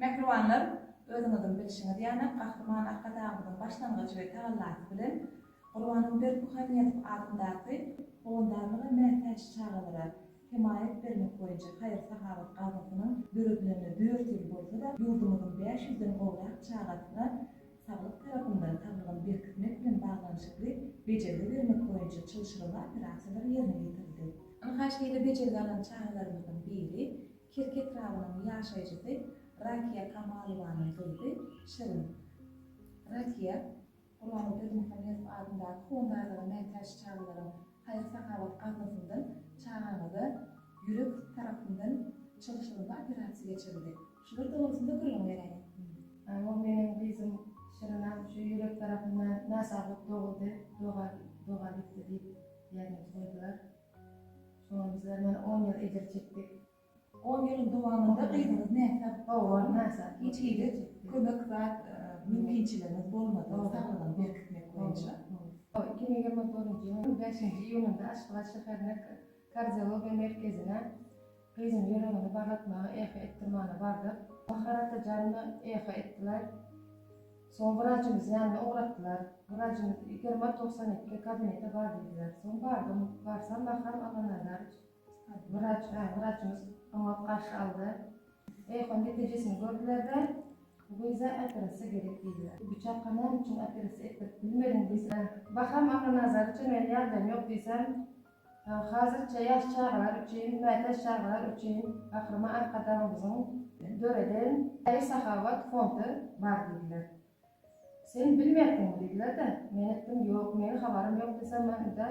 Mähribanlar, özüňiziň bilşiňiz ýaly, Gahryman Arkadagymyzyň başlangyjy we tagallasy bilen Gurbangül Berdimuhamedow adyndaky Howandarlyga mätäç çagalara hemaýat bermek boýunça haýyr-sahawat gaznasynyň döredilende dört ýyl bolsa-da, ýurdumyzyň bäş ýüzden gowrak çagasyna saglyk tarapyndan saglygyny berkitmek bilen baglanyşykly bejergi bermek boýunça çylşyrymly operasiýalar ýerine ýetirildi. Ynha, şeýle bejergi alan çagalarymyzyň biri Kerki etrabynyň ýaşaýjysy Rakiýa Kamalowanyň gyzy Şirin. Rakiýa, Gurbanguly Berdimuhamedow adyndaky Fondaýlara mätäç çagalaryň haýyr-sahawat gaznasyndan çagaňyza ýürek tarapyndan çalşyrymly operasiýa geçirildi. Şular dogrusynda gürrüň beräýiň. Ol meniň gyzym Şirinam şu ýürek tarapyndan nasazlyk doguldy, doga doga gitdi diýip diagnoz goýdular. Şonda bizler ýene on ýyl ejir çekdik. On ýylyň dowamynda gyzyňyz näsag? Howam näsag. Hiç hili kömek zat mümkinçiligiňiz bolmady, saglygyny berkitmek boýunça? Howam iki müň ýigrimi birinji ýylyň bäşinji iýunynda Aşgabat şäherine kardiologiýa merkezine Gyzyň ýüregini barlatmaga ehe etdim mana bardyk. Bahar ata janyma ehe etdiler. Soň wrajymyz ýanyna ugratdylar. Wrajymyz ýigrimi togsan iki kabinete bar diýdiler. Soň bardym. Barsam Bahram Amanazarowç wraç hä wraçymyz oňat garşy aldy. Eýhon netijisini gördülerde bu gyza operasiýa gerek diýdiler. Bu çaka näme üçin operasiýa etdirip bilmediň diýse. Bahram Amanazarowça meniň ýagdaýym ýok diýsem Hazirçe ýaş çagalar üçin, mätäç çagalar üçin Gahryman Arkadagymyzyň döreden Haýyr-sahawat fondy bar diýdiler. Sen bilmersiňmi diýdiler-de, men etdim, ýok, meniň habarym ýok desem, maňa-da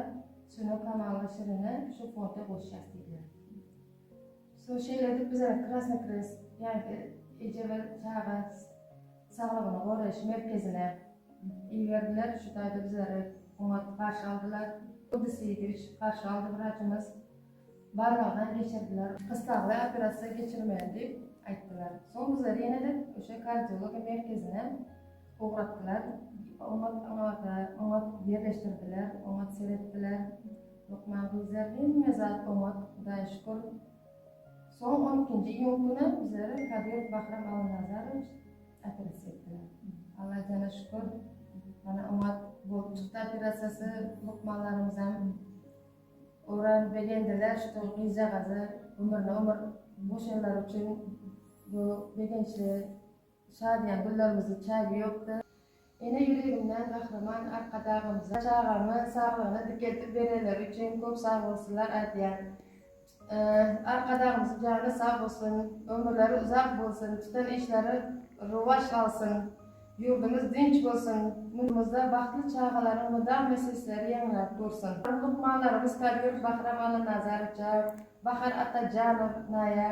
Sünün Kamalowa Şirine şu fonda goşýas diýdiler. Soň şeýle edip biz Krasny Krest, ýagny eje we çaga Saglygyny goraýyş merkezine iberdiler. Şu taýda bizleri oňat garşy aldylar. Gudys Seýidowiç garşy aldy wraçymyz. Barlagdan geçirdiler. Gyssagly operasiýa geçirmeli diýip aýtdylar. Soň bizleri ýene-de Uşa kardiologiýa merkezine ugratdylar. Oňat aňabada oňat ýerleşdirdiler, oňat seretdiler. Lukman gyzlar hemme zat oňat, Hudaýa şükür. Soň on ikinji iýun günem bizlere Kadir Bahram Allanazarowitş operasiýa etdiler. Alla jana şükür, mana oňat bolup çykdy operasiýasy. Lukmanlarymyzam oran begendiler, şo gyzjagazy ömrüne ömür goşanlary üçin bu begençli Şadyýan günlerimiziň çägi ýokdy. Ene ýüregimden Gahryman Arkadagymyza çagamy saglygyna dikeltip berenleri üçin köp sagbolsunlar aýdýan. Arkadagymyzyň jany sag bolsun, ömürleri uzak bolsun, tutan işleri rowaç alsyn, ýurdumyz dynç bolsun, ýurdumyzda bagtly çagalaryň mydama sesleri ýaňlap dursun. Lukmanlarymyz Kabir, Bahram Allanazarow, Bahar Atajanow, Naýa,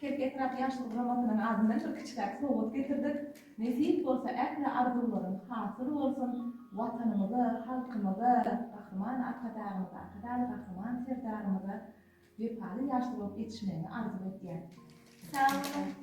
Pes etrap ýaşlar guramasynyň adyndan bir kiçiräk sowgat getirdik. Nesip bolsa ähli arzuwlaryň hasyl bolsun, Watanymyza, halkymyza, Gahryman Arkadagymyza, Arkadagly Gahryman Serdarymyza wepaly ýaşlar bolup ýetişmegiňi arzuw edýän. Sag boluň.